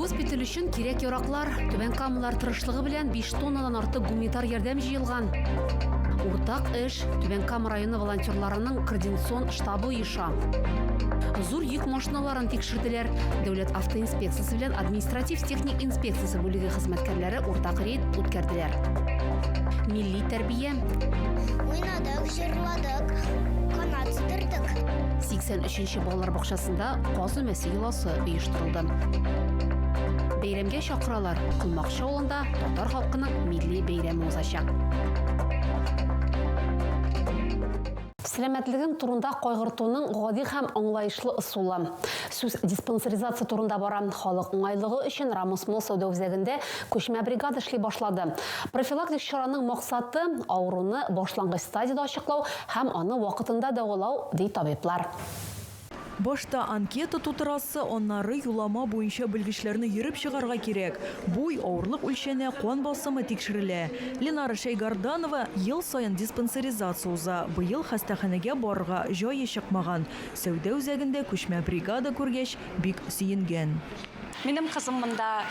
Госпиталь өчен кирәк-яраклар, Түбән Камалар тырышлыгы белән 5 тоннадан артык гуманитар ярдәм җыелган. Уртак эш Түбән Кама районы волонтерларының координацион штабы оеша. Зур йөк машиналарын тикшерделәр. Дәүләт автоинспекциясе белән административ-техник инспекциясе бүлеге хезмәткәрләре уртак рейд үткәрделәр. Милли тәрбия, Уйнадык, Җырладык, канат сыдырдык. 83 нче балалар бакчасында каз өмәсе йоласы оештырылды. Бәйрәмгә чакыралар, Колмакчы авылында татар халкының милли бәйрәме узачак. Сәламәтлеген турында кайгыртуның гади һәм аңлаешлы ысулы. Сүз диспансеризация турында бара. Халык уңайлыгы өчен Рамос Мол сәүдә үзәгендә Күчмә бригада эшли башлады. Профилактик чараның максаты, авыруны башлангыч стадиядә ачыклау һәм аны вакытында дәвалау, ди табиблар. Башта анкета тутырасы, аннары юлама буенча белгечләрне йөреп чыгарга кирәк. Буй, авырлык үлчәнә, кан басымы тикшерелә. Ленара Шәйгарданова ел саен диспансеризация уза. Быел хастаханәгә барырга җае чыкмаган. Сәүдә үзәгендә күчмә бригада күргәч, бик сөенгән. Минем кызым монда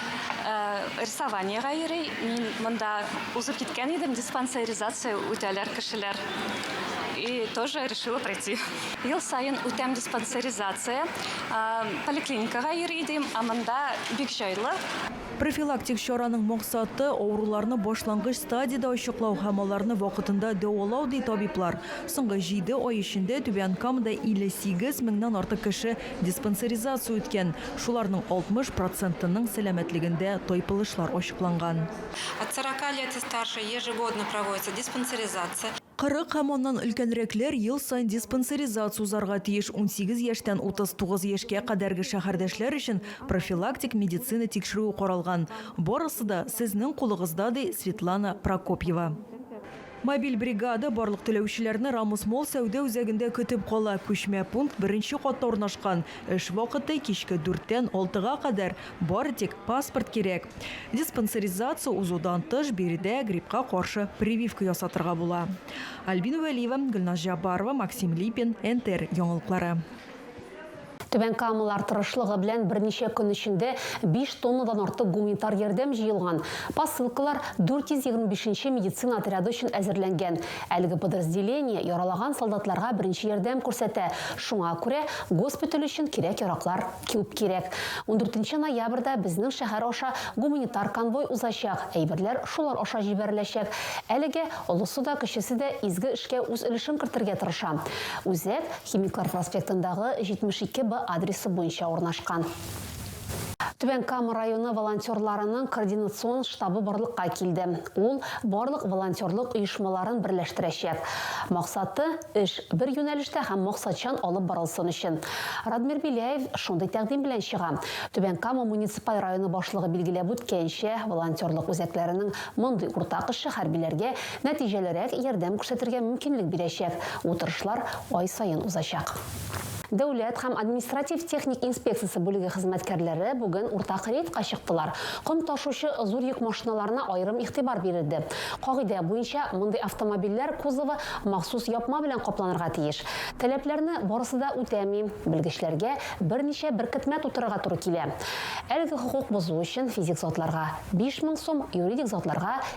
рисованиегә йөри. Мин монда узып киткән идем, диспансеризация үтәләр кешеләр. И тоже решила пройти. Ел саен үтәм диспансеризация. Поликлиникага йөри идем, ә монда бик җайлы. Профилактик чараның максаты, авыруларны башлангыч стадиядә ачыклау һәм аларны вакытында дәвалау, ди табиблар. Соңгы җиде ай эчендә Түбән Камада 58 меңнән артык кеше Диспансеризация үткән, шуларның 60 процентының сәламәтлегендә тайпылышлар ачыкланган. От сорока лет и старше ежегодно проводится диспансеризация. 40 һәм аннан өлкәнрәкләр ел саен диспансеризация узарга тиеш, 18 яшьтән 39 яшькә кадәрге шәһәрдәшләр өчен профилактик медицина тикшерүе каралган. Барысы да сезнең кулыгызда, ди Светлана Прокопьева. Мобиль бригада барлык теләүчеләрне Рамус Молл сәүдә үзәгендә көтеп кала. Күчмә пункт беренче катта урнашкан. Эш вакыты, кичке дүрттән алтыга кадәр. Бары тик паспорт кирәк. Диспансеризация узудан тыш, биредә гриппка каршы прививка ясатырга була. Альбина Вәлиева, Гөлназ Җаббарова, Максим Липин, НТР яңалыклары. Түбән Камалар тырышлыгы белән берничә көн эчендә биш тоннадан артык гуманитар ярдәм җыелган. Посылкалар 425 нче медицина отряды өчен әзерләнгән. Әлеге подразделение яралаган солдатларга беренче ярдәм күрсәтә, шуңа күрә госпиталь өчен кирәк-яраклар күп кирәк. Ундүртенче ноябрьдә безнең шәһәр аша гуманитар конвой узачак, әйберләр шулар аша җибәреләчәк. Әлегә олысы да, кечесе дә изге эшкә үз өлешен кертергә тырыша. Үзәк. Химиклар проспектындагы 72 Б адресы буенча урнашкан. Түбән Кама районы волонтерларының координацион штабы барлыкка килде. Ул барлык волонтерлык оешмаларын берләштерәчәк. Максаты, эш бер юнәлештә һәм максатчан алып барылсын өчен. Радмир Беляев шундый тәкъдим белән чыга. Түбән Кама муниципаль районы башлыгы билгеләп үткәнчә, волонтерлык үзәкләренең мондый уртак эше хәрбиләргә Нәтиҗәлерәк ярдәм күрсәтергә мөмкинлек бирәчәк утырышлар ай саен узачак. Дәүләт һәм административ-техник инспекциясе бүлеге хезмәткәрләре бүген уртак рейдка чыктылар. Ком ташучы зур йөк машиналарына аерым игътибар бирелде. Кагыйдә буенча, мондый автомобильләр кузовы махсус япма белән капланырга тиеш. Таләпләрне барысы да үтәми, белгечләргә берничә беркетмә тутырырга туры килә. Әлеге хокук бозу өчен физик затларга, 5 мең сум, юридик затларга,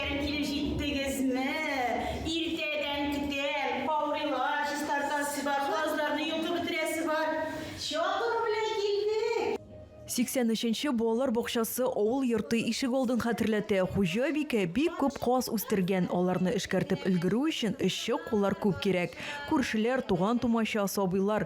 Килеп җиттегезме? Иртәдән көтәм, каурыйлар чистартасы бар, казларны йолкып бетерәсе бар. Чабыр белән килдек! 83 нче балалар бакчасы авыл йорты ишегалдын хәтерләтә. Хуҗабикә бик күп каз үстергән, аларны эшкәртеп өлгерү өчен эшче куллар күп кирәк. Күршеләр, туган-тумача, сабыйлар,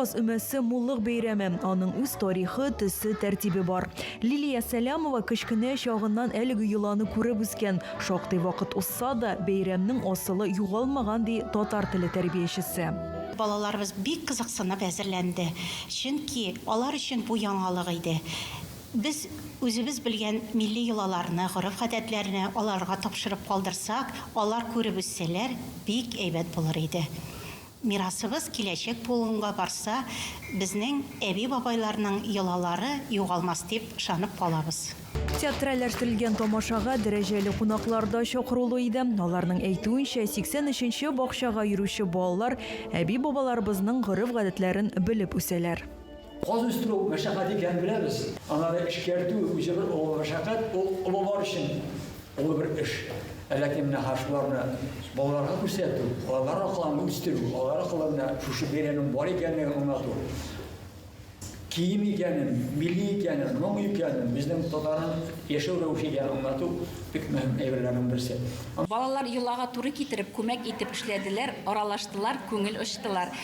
Каз өмәсе муллык бәйрәме, аның үз тарихы, төсе, тәртибе бар. Лилия Сәләмова кечкенә чагыннан әлеге йоланы күреп үскән. Шактый вакыт узса да, бәйрәмнең асылы югалмаган, ди татар теле тәрбиячесе. Балаларыбыз бик кызыксынып әзерләнде, чөнки алар өчен бу яңалык иде. Без үзебез белгән милли йолаларны, гореф-гадәтләрне аларга тапшырып калдырсак, алар күреп үссәләр, бик әйбәт булыр иде. Мирасыбыз киләчәк буынга барса, безнең әби-бабайларның йолалары югалмас дип ышанып калабыз. Театральләштерелгән тамашага дәрәҗәле кунаклар да чакырулы иде. Аларның әйтүенчә, 83 нче бакчага йөрүче балалар әби-бабаларыбызның гореф-гадәтләрен белеп үсәләр. Каз үстерү мәшәкать икәнен беләбез. Аннары эшкәртү үзе бер олы мәшәкать, ул олылар өчен олы бер эш. Ә ләкин менә хәзер шуларны балаларга күрсәтү, алар аркылы үстерү, алар аркылы менә шушы бәйрәмнең бар икәнлеген аңлату, кием икәнен, милли икәнен, моң икәнен, безнең татарның яшәү рәвеше икәнен аңлату бик мөһим әйберләрнең берсе. Балалар йолага туры китереп, күмәк итеп эшләделәр, аралаштылар, күңел ачтылар.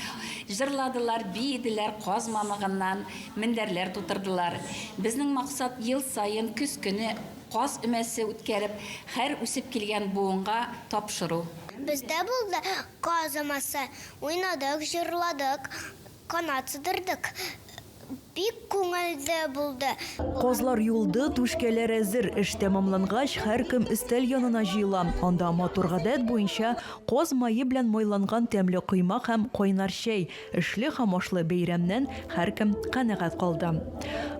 Җырладылар, биеделәр, каз мамыгыннан мендәрләр тутырдылар. Безнең максат ел саен көз көне каз өмәсе үткәреп, хәр үсеп килгән буынга тапшыру. Без дә булды каз өмәсе, уйнадык, җырладык, канат сыдырдык. Бик күңелле булды. Казлар юылды, түшкәләр әзер. Эш тәмамлангач, һәркем өстәл янына җыела. Анда матур гадәт буенча, каз мае белән майланган тәмле коймак һәм кайнар чәй. Эшле һәм ашлы бәйрәмнән һәркем канәгать калды.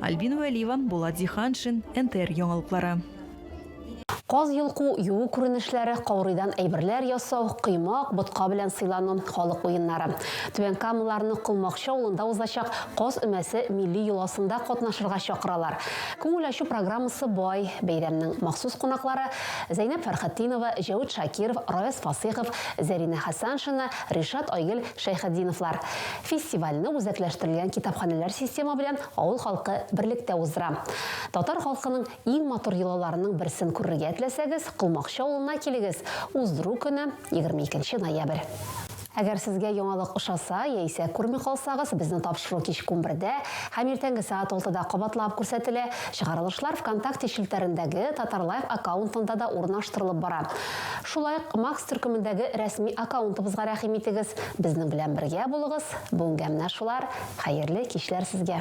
Альбина Вәлиева, Булат Зиһаншин, НТР яңалыклары. Каз йолку, юу күренешләре, каурыйдан әйберләр ясау, коймак, ботка белән сыйлану, халык уеннары. Түбән Камаларның Колмакчы авылында узачак Каз өмәсе милли йоласында катнашырга чакыралар. Күңел ачу программасы бай, бәйрәмнең махсус кунаклары, Зәйнәп Фәрхетдинова, Җәүит Шакиров, Раяз Фасыйхов, Зәринә Хәсәншина, Ришат Айгел Шәйхетдиновлар. Фестивальне үзәкләштерелгән китапханәләр системы белән авыл халкы берлектә уздыра. Татар халкының Иң матур йолаларының берсен күрергә теләсәгез, Колмакчы авылына килегез, уздыру көне, 22 нче ноябрь. Әгәр сезгә яңалык ошаса, яисә күрми калсагыз, безнең тапшыру кичке унбердә һәм иртәнге сәгать алтыда кабатлап күрсәтелә, чыгарылышлар Вконтакте челтәрендәге Татарлайф аккаунтында да урнаштырылып бара. Шулай ук Макс төркемендәге рәсми аккаунтыбызга рәхим итегез, безнең белән бергә булыгыз, бүгенгә менә шулар, хәерле кичләр сезгә!